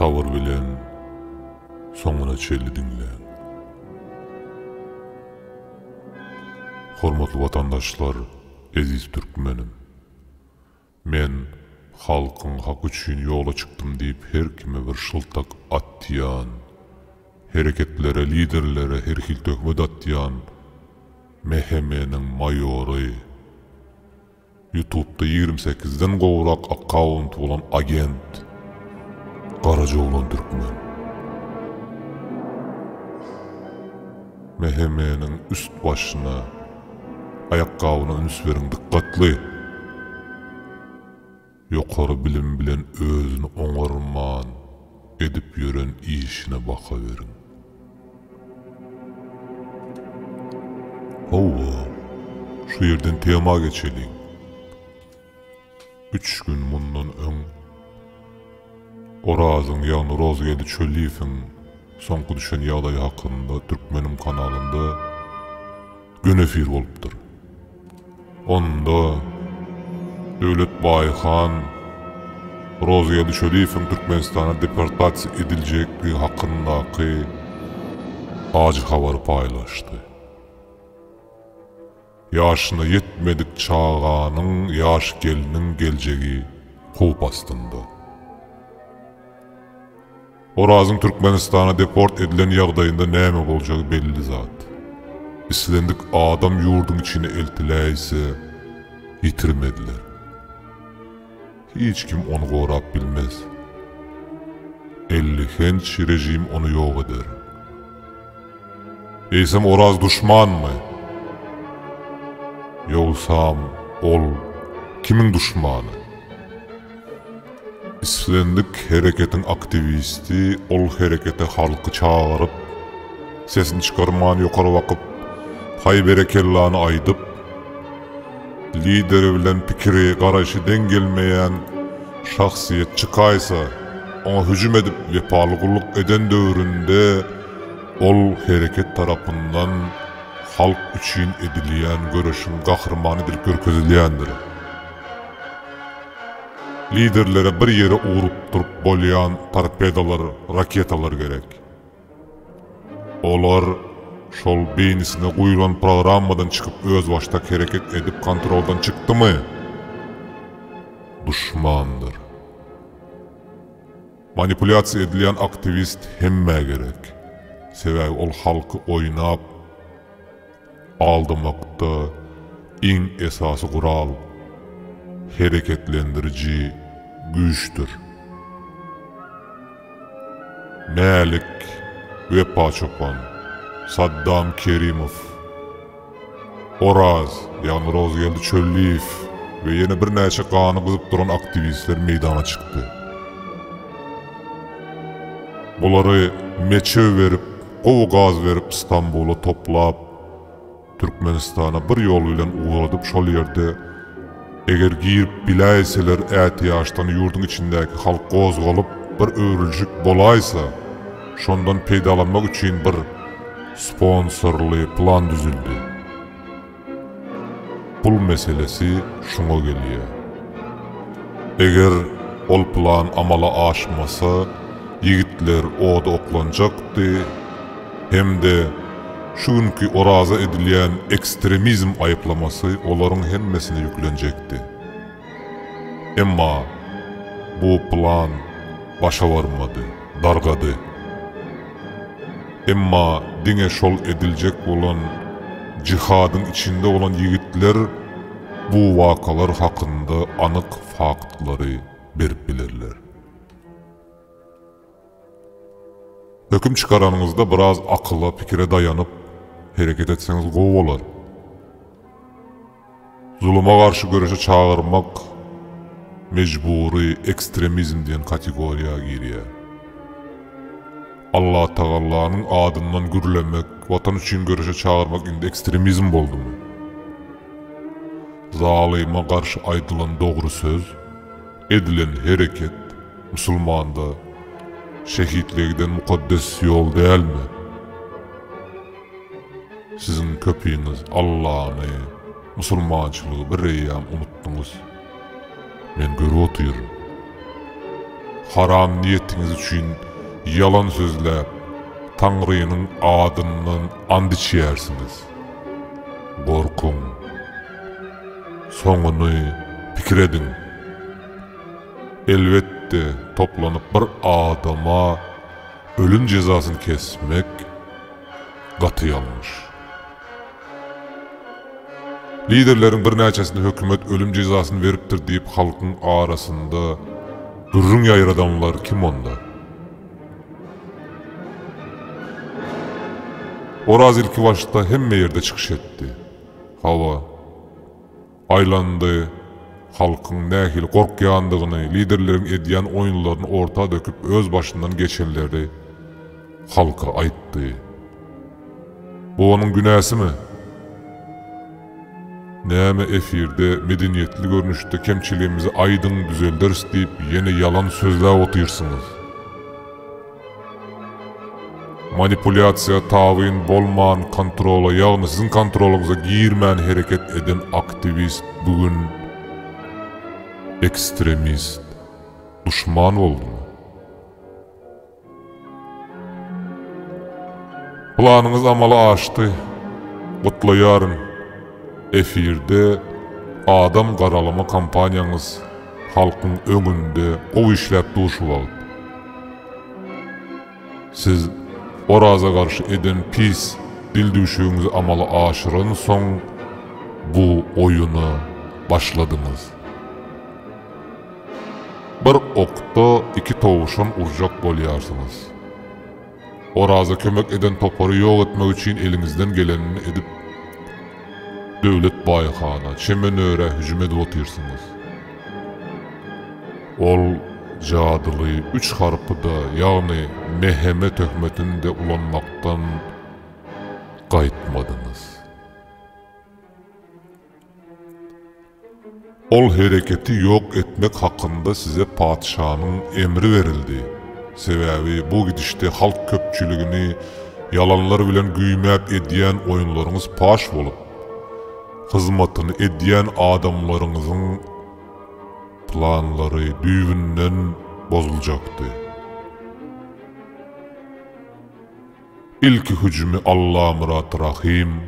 Sabyr bilen soňuna çenli diňläň. Hormatly watandaşlar, eziz türkmenim! Men halkyň haky üçin ýola çykdym diýip her kime bir şyltak atýan, hereketlere, liderlere herhil töhmet atýan MHM-niň maýory, ýutubda ýigrimi sekizden gowrak akkawunty bolan agent, garajoglan türkmen. MHM-niň üst başyna Aýakgabyna üns beriň dykgatly! Ýokary bilim bilen özüni oňarman edip ýören işine baha beriň! Howwa, şu ýerden tema geçeliň! Üç gün mundan öň Orazyň, ýagny Rozgeldi Çölliýewiň soňky düşen ýagdaýy hakynda Türkmenim kanalynda gün efir bolupdyr. Onda Döwlet Baýhan Rozgeldi Çölliýewiň Türkmenistana deportasiýa ediljekdigi hakyndaky ajy habary paýlaşdy. Ýaşyna ýetmedik çaganyň, ýaş gelniň geljegi howp astynda. Orazyň Türkmenistana deport edilen ýagdaýynda näme boljagy belli zat. Islendik adam ýurduň içine eltiläýse, ýitirmediler. Hiç kim ony gorap bilmez. Ellihenç rejim ony ýok eder. Eýsem Oraz duşmanmy? Ýogsam ol kimiň duşmany? Islendik hereketiň aktiwisti ol herekete halky çagyryp, sesini çykarman ýokary bakyp, haý berekellany aýdyp, Lideri bilen pikiri, garaýşy deň gelmeýän şahsyýet çykaýsa, oňa hüjüm edip wepaly gulluk eden döwründe ol hereket tarapyndan halk üçin edilýän göreşiň gahrymany edilip görkezilýändir. Liderlere bir ýere urup durup bolýan torpedalar, raketalar gerek. Olar şol beýnisine guýlan programmadan çykyp özbaşdak hereket edip kontroldan çykdymy? Duşmandyr. Manipulýasiýa edilýän aktiwist hemmä gerek. Sebäbi ol halky oýnap. Aldamakda iň esasy gural hereketlendiriji güýçdür. Mälik Wepaçopan, Saddam Kerimow, Oraz, ýagny Rozgeldi Çölliýew we ýene birnäçe gany gyzyp duran aktiwistler meýdana çykdy. Bulary meçew berip, Gowy gaz berip Stambula toplap Türkmenistana bir ýol bilen ugradyp şol ýerde eger girip biläýseler ätiýaçdan ýurduň içindäki halk gozgalyp bir öwrüljik bolaýsa şondan peýdalanmak üçin bir sponsorly plan düzüldi. Pul meselesi şuňa gelýär. Eger ol plan amala aşmasa, ýigitler oda oklanjakdy hem-de şu günki Oraza edilýän ekstremizm aýyplamasy olaryň hemmesine ýüklenjekdi. Emma bu plan başa barmady, dargady. Emma diňe şol ediljek bolan jihadyň içinde bolan ýigitler bu wakalar hakynda anyk faktlary berip bilerler. Höküm çykaranyňyzda biraz akyla, pikire daýanyp, hereket etseňiz gowy bolar. Zuluma garşy göreşe çagyrmak mejbury ekstremizm diýen kategoriýa girýär. Allatagallanyň adyndan gürlemek, Watan üçin göreşe çagyrmak indi ekstremizm boldumy? Zalyma garşy aýdylan dogry söz. Edilen hereket musulmanda şehitlige giden mukaddes ýol dälmi? Siziň köpiňiz Allany, musulmançylygy bireýýäm unutdyňyz. Men görüp otyryn. Haram niýetiňiz üçin ýalan sözläp, Taňrynyň adyndan ant içýärsiňiz. Gorkuň. Soňuny pikir ediň. Elbetde, toplanyp bir adama ölüm jezasyny kesmek gaty ýalňyş. Liderleriň birnäçesine hökümet ölüm jezasyny beripdir diýip halkyň arasynda gürrüň ýaýradanlar kim onda? Oraz ilkibaşda hemme ýerde çykyş etdi. Hawa, aýlandy, halkyň nähili gorkýandygyny, liderleriň edýän oýunlaryny orta döküp öz başyndan geçenleri halka aýtdy. Bu onuň günäsimi? Näme efirde medeniýetli görnüşde kemçiligimizi aýdyň düzelderis diýip ýene ýalan sözläp otyrsyňyz. Manipulýasiýa tabyn bolman kontrola ýagny siziň kontrolyňyza girmän hereket eden aktiwist bu gün ekstremist, duşman boldumy? Planyňyz amala aşdy. Gutlaýaryn! Efirde Adam garalama kampaniýaňyz halkyň öňünde gowy işläp durşy wagt. Siz Oraza garşy eden pis dildüwşügiňizi amala aşyran soň bu oýuna başladyňyz. Bir okda iki towşan urjak bolýarsyňyz. Oraza kömek eden topary ýok etmek üçin eliňizden gelenini edip, Döwlet baýhana, Çemenörä hüjüm edip otyrsyňyz. Ol jadyly üç harpy-da, ýagny Meheme töhmetini-de ulanmakdan gaýtmadyňyz. Ol hereketi ýok etmek hakynda size patyşanyň emri berildi. Sebäbi bu gidişde halk köpçüligini ýalanlar bilen güýmäp edýän oýunlaryňyz paş bolup, hyzmatyny edýän adamlaryňyzyň planlary düýbünden bozuljakdy. Ilki hüjümi Allamyrat Rahym,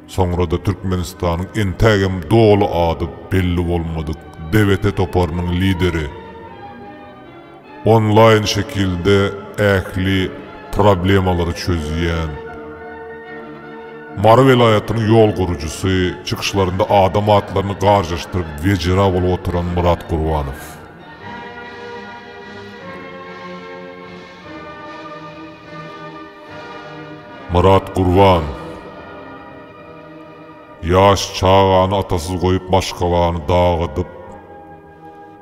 soňra-da Türkmenistanyň entägem doly ady belli bolmadyk DBT toparynyň lideri onlaýn şekilde ähli problemalary çözýän Mary welaýatynyň ýol gurujysy, çykyşlarynda adam atlaryny garjaşdyryp wejera bolup oturan Myrat Gurbanow. Myrat Gurban Ýaş çagany atasyz goýup maşgalany dagydyp,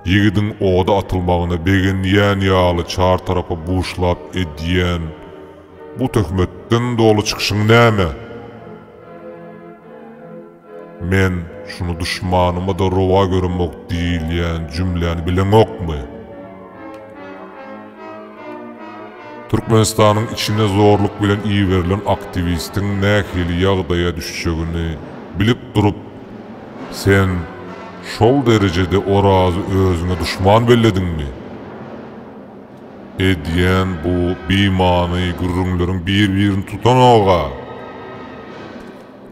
ýigidiň oda atylmagyna begenýän ýaly çar tarapy buşlap edýän bu töhmetden doly çykyşyň näme? Men şuny duşmanyma-da rowa göremok diýilýän jümläni bileňokmy? Türkmenistanyň içine zorluk bilen iberilen aktiwistiň nähili ýagdaýa düşjegini bilip durup, sen şol derejede Orazy özüňe duşman bellediňmi? Edýän bu bimany gürrüňleriň bir-birini tutanoga!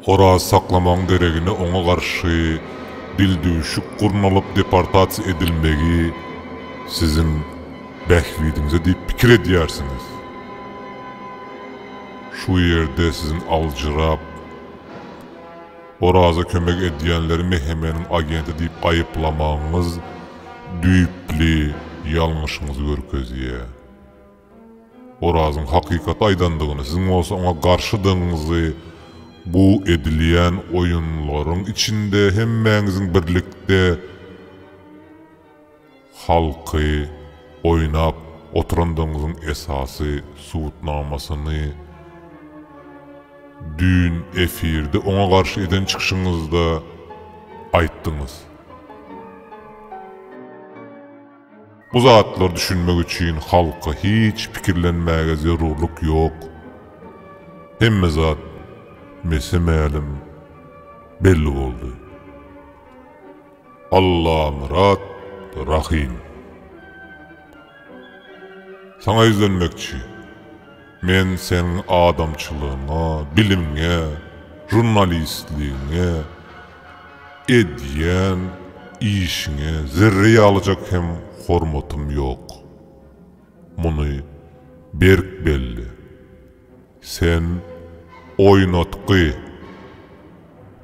Oraz saklamagyň deregine oňa garşy dildüwşük gurnalyp deportasiýa edilmegi siziň bähbidiňize diýip pikir edýärsiňiz. Şu ýerde siziň aljyrap, Oraza kömek edýänleri MHM-niň agenti diýip aýyplamagyňyz düýpli ýalňyşyňyzy görkezýär. Orazyň hakykaty aýdandygyny, siziň bolsa oňa garşydygyňyzy, bu edilýän oýunlaryň içinde hemmäňiziň birlikde halky oýnap oturandygyňyzyň esasy subutnamasyny düýn efirde oňa garşy eden çykyşyňyzda aýtdyňyz. Bu zatlar düşünmek üçin halka hiç pikirlenmäge zerurlyk ýok. Hemme zat mese-mälim belli boldy. Allamyrat Rahym. Saňa ýüzlenmekçi. Men seň adamçylygyňa, bilimiňe, žurnalistligiňe, edýän işiňe zerre ýalyjak hem hormatym ýok. Muny berk belle. Sen oýnatgy.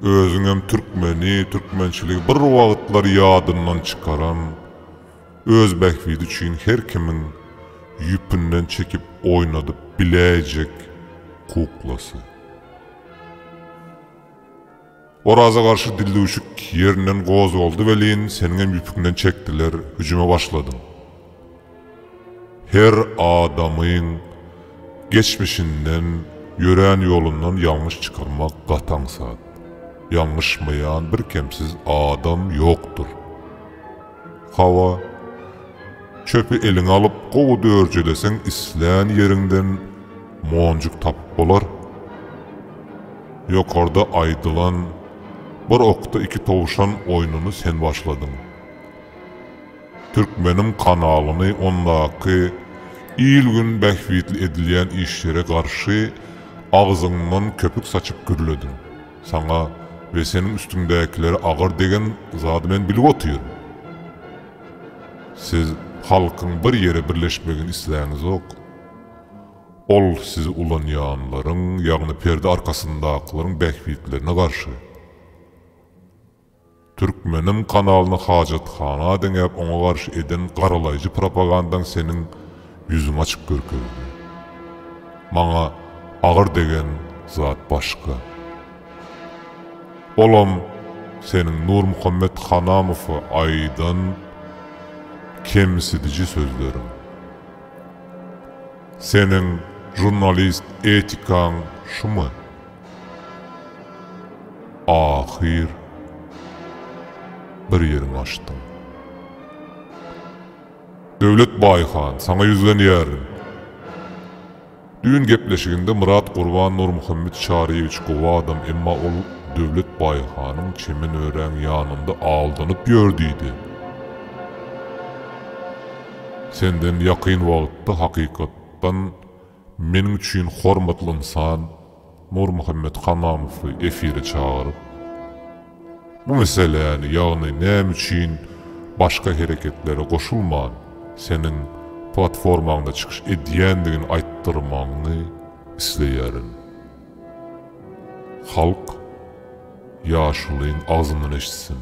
Özüňem türkmeni, türkmençiligi bir wagtlar ýadyndan çykaran, Öz bähbidi üçin her kimiň ýüpünden çekip oýnadyp biläýjek kuklasy. Oraza garşy dildüwşük ýerinden gozgaldy welin, seniňem ýüpüňden çekdiler, hüjüme başladyň. Her adamyň geçmişinden, ýörän ýolundan ýalňyş çykarmak gaty aňsat. Ýalňyşmaýan birkemsiz adam ýokdur. Hawa, çöpi eliňe alyp gowy dörjeleseň islän ýeriňden monjuk tapyp bolar. Ýokarda aýdylan Bir okda iki towşan oýnuny sen başladyň. Türkmeniň kanalyny ondaky il-gün bähbitli edilýän işlere garşy agzyňdan köpük saçyp gürlediň. Saňa we seniň üstüňdäkilere agyr degen zady men bilip otyryn. Siz halkyň bir ýere birleşmegini isläňizok. Ol sizi ulanýanlaryň, ýagny perde arkasyndakylaryň bähbitlerine garşy. Türkmenim kanalyny hajathana deňäp oňa garşy eden garalaýjy propagandaň seniň ýüzüň açyp görkezdi. Maňa agyr degen zat başga. Olam seniň Nurmuhammet Hanamowa aýdan kemsidiji sözleriň. Seniň žurnalist etikaň şumy? Ahyr bir ýeriňi açdyň. Döwlet Baýhan, saňa ýüzlenýärin. Düýn gepleşiginde Myrat Gurban Nurmuhammet Çaryýewiç gowy adam, emma ol Döwlet Baýhanyň çemen örän ýanynda aldanyp ýör diýdi. Senden ýakyn wagtda hakykatdan Meniň üçin hormatly ynsan Nurmuhammet Hamamowy efire çagyryp, bu meseläni, ýagny näme üçin başga hereketlere goşulman, seniň platformaňda çykyş edýändigini aýtdyrmagyňy isleýärin. Halk ýaşulyň agzyndan eşitsin.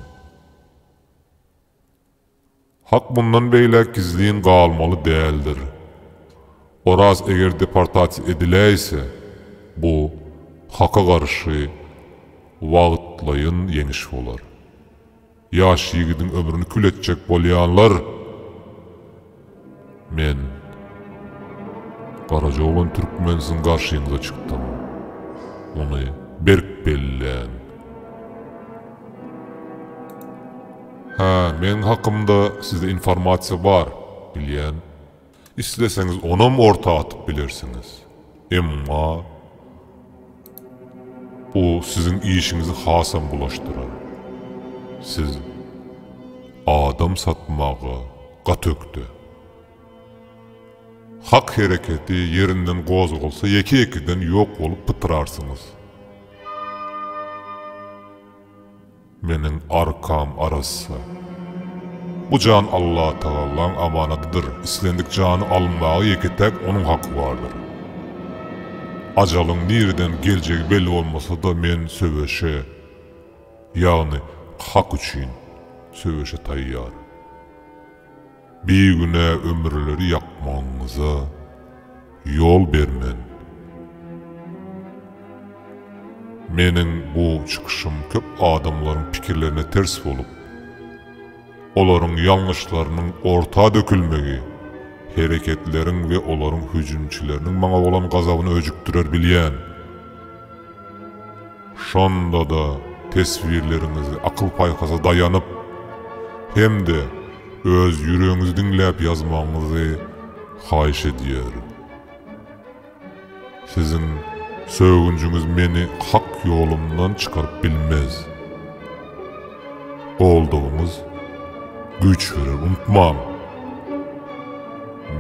Hak mundan beýläk gizlin galmaly däldir. Oraz eger deportasiýa ediläýse, bu Haka garşy wagtlaýyn ýeňiş bolar. Ýaş ýigidiň ömrüni kül etjek bolýanlar! Men, Garaja oglan türkmen siziň garşyňyza çykdym. Ony berk bellän. Hä, meň hakymda sizde informasiýa bar, bilýän. Isleseňiz onam orta atyp bilersiňiz. Emma bu siziň işiňizi hasam bulaşdyrar. Siz adam satmaga gaty ökde. Hak hereketi ýerinden gozgalsa ýeke-ýekeden ýok bolup pytrarsyňyz. Meniň arkam arassa. Bu jan Allatagalaň amanadydyr, islendik jany alynmaga ýeke-täk Onuň haky bardyr. Ajalyň nireden geljegi belli bolmasa-da men söweşe, ýagny hak üçin söweşe taýýar. Bigünä ömürleri ýakmagyňyza ýol bermen. Meniň bu çykyşym köp adamlaryň pikirlerine ters bolup, olaryň ýalňyşlarynyň orta dökülmegi, hereketleriň we olaryň hüjümçileriniň maňa bolan gazabyny öjükdirer bilýän. Şonda-da teswirleriňizi akyl-paýhasa daýanyp hem-de öz ýüregiňizi diňläp ýazmagyňyzy haýyş edýärin. Siziň sögünjiňiz meni hak ýolumdan çykaryp bilmez. Goldawyňyz güýç berer, unutmaň!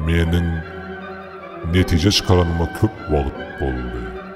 Meniň netije çykaranyma köp wagt boldy.